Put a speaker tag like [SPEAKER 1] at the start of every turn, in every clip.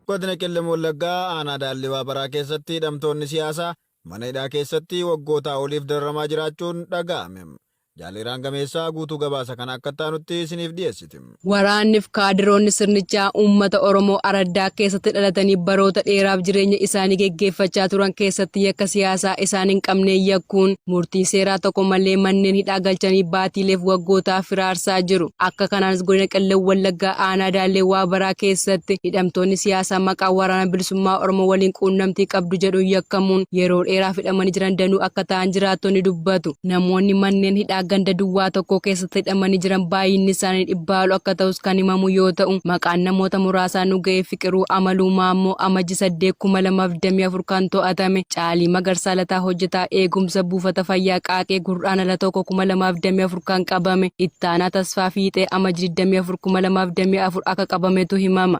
[SPEAKER 1] Godina Qellem Wallaggaa aanaa Daallii Waabaraa keessatti hidhamtoonni siyaasaa mana hidhaa keessatti waggootaa oliif dararamaa jiraachuun dhaga'ame. Jaal Iraan Gameessaa guutuu gabaasa kana akka itti aanutti isiniif dhiyeessiti. Waraannif
[SPEAKER 2] kaadiroonni sirnichaa uummata Oromoo araddaa keessatti dhalatanii baroota dheeraaf jireenya isaanii geggeeffachaa turan keessatti yakka siyaasaa isaan hin qabneen yakkuun murtii seeraa tokko malee manneen hidhaa galchanii baatiileef waggootaaf firaarsaa jiru. Akka kanaanis Godina Qellem Wallaggaa Aanaa Daallee Waabaraa keessatti hidhamtoonni siyaasaa maqaa Waraana Bilisummaa Oromoo waliin quunnamtii qabdu jedhuun yakkamuun yeroo dheeraaf hidhamanii jiran danuu akka ta'an jiraattonni dubbatu. Namoonni manneen hidhaa ganda duwwaa tokkoo keessatti hidhamanii jiran baay'inni isaanii dhibbaa ol akka ta'us kan himamu yoo ta'u, maqaan namoota muraasaa nu ga'e Fiqiruu Amaluu Maammoo Amajji 8,2024 kan to'atame, Caalii Magarsaa Lataa hojjetaa eegumsa buufata fayyaa Qaaqee Gurraandhala 1,2024 kan qabame, Ittaanaa Tasfaa Fiixee Amajji 24,2024 akka qabametu himama.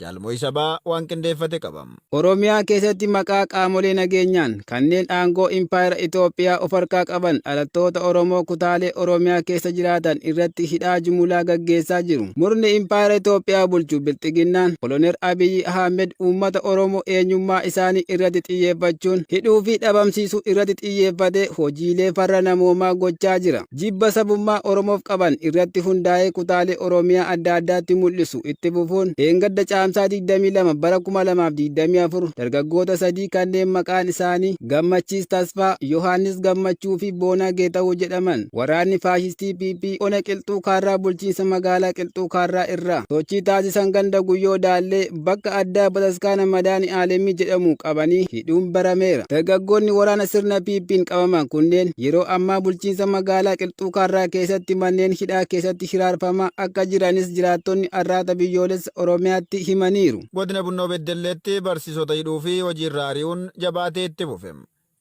[SPEAKER 1] Jaal Mo'isaa Ba waan qindeeffate qaba. Oromiyaa keessatti
[SPEAKER 3] maqaa qaamolee nageenyaan kanneen aangoo Impaayera Itoophiyaa of harkaa qaban dhalattoota Oromoo kutaalee Oromiyaa keessa jiraatan irratti hidhaa jumulaa gaggeessaa jiru. Murni Impaayera Itoophiyaa bulchu Bilxiginnaan Koloneer Abiy Ahmed uummata Oromoo eenyummaa isaanii irratti xiyyeeffachuun hidhuu fi dhabamsiisuu irratti xiyyeeffatee hojiilee farra namoomaa gochaa jira. Jibba sabummaa Oromoof qaban irratti hundaa'ee kutaalee Oromiyaa adda addaatti mul'isu itti fufuun dheengadda Caamsaa 22 bara 2024 dargaggoota sadii kanneen maqaan isaanii Gammachiis Tasfaa, Yohaannis Gammachuu fi Boonaa Geetahuw jedhaman waraanni faashistii PP ona Qilxuu Kaarraa bulchiinsa magaalaa Qilxuu Kaarraa irraa sochii taasisan ganda Guyyoo Daallee bakka addaa bataskaana Madaani Aalemii jedhamu qabanii hidhuun barameera. Dargaggoonni waraana sirna PP'n qabaman kunneen yeroo ammaa bulchiinsa magaalaa Qilxuu Kaarraa keessatti manneen hidhaa keessatti hiraarfamaa akka jiranis jiraattonni Arraata Biyyoolessa Oromiyaatti himaniiru. Godina Bunnoo
[SPEAKER 1] Beddelleetti barsiisota hidhuu fi hojiirraa ari'uun jabaatee itti fufe.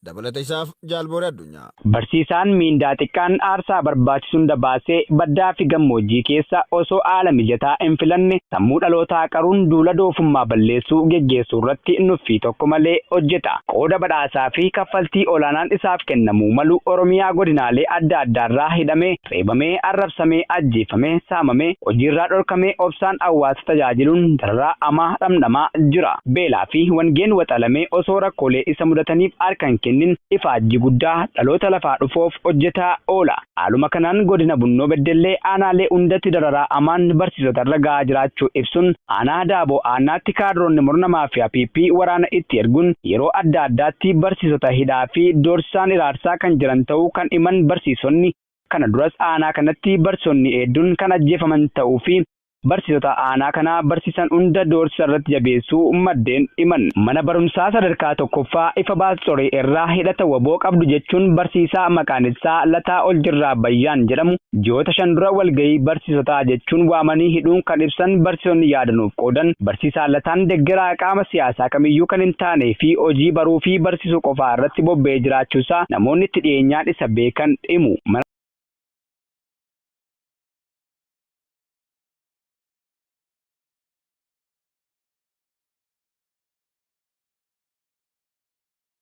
[SPEAKER 1] Dabalata isaaf Jaal Booree Addunyaa. Barsiisaan miindaa
[SPEAKER 4] xiqqaan aarsaa barbaachisu hunda baasee baddaafi gammoojjii keessa osoo haala mijataa hinfilanne sammuu dhalootaa qaruun duula doofummaa balleessuu geggeessuurratti nuffii tokko malee hojjeta. Qooda badhaasaafi kaffaltii olaanaan isaaf kennamuu malu Oromiyaa godinaalee adda addaarraa hidhamee reebamee, arrabsamee, ajjeefamee, saamamee, hojiirraa dhorkamee obsaan hawwaasa tajaajiluun dararaa hamaa dhamdhamaa jira. Beelaa fi wangeen waxalamee osoo rakkoolee isa mudataniif harka hin kennin ifaajjii guddaa dhaloota lafaa dhufoof hojjetaa oola. Haaluma kanaan Godina Bunnoo Beddellee aanaalee hundatti dararaa hamaan barsiisota irra gahaa jiraachuu ibsuun aanaa Daaboo Aannaatti kaadroonni murna maafiyaa PP waraana itti erguun yeroo adda addaatti barsiisota hidhaa fi doorsisaan hiraarsaa kan jiran ta'uu kan himan barsiisonni, kana duras aanaa kanatti barsiisonni heedduun kan ajjeefaman ta'uu fi barsiisota aanaa kana barsiisan hunda doorsisa irratti jabeessuu maddeen himan. Mana barumsaa sadarkaa tokkoffaa Ifabaas Coree irraa hidhata wbo qabdu jechuun barsiisaa maqaan isaa Lataa Oljirraa Bayyaan jedhamu ji'oota shan dura walgahii barsiisotaa jechuun waamanii hidhuun kan ibsan barsiisonni yaada nuuf qoodan, barsiisaa Lataan deggeraa qaama siyaasaa kamiyyuu kan hin taanee fi hojii baruu fi barsiisuu qofaa irratti bobba'ee jiraachuu isaa namoonni itti dhiyeenyaan isa beekan himu. Mana.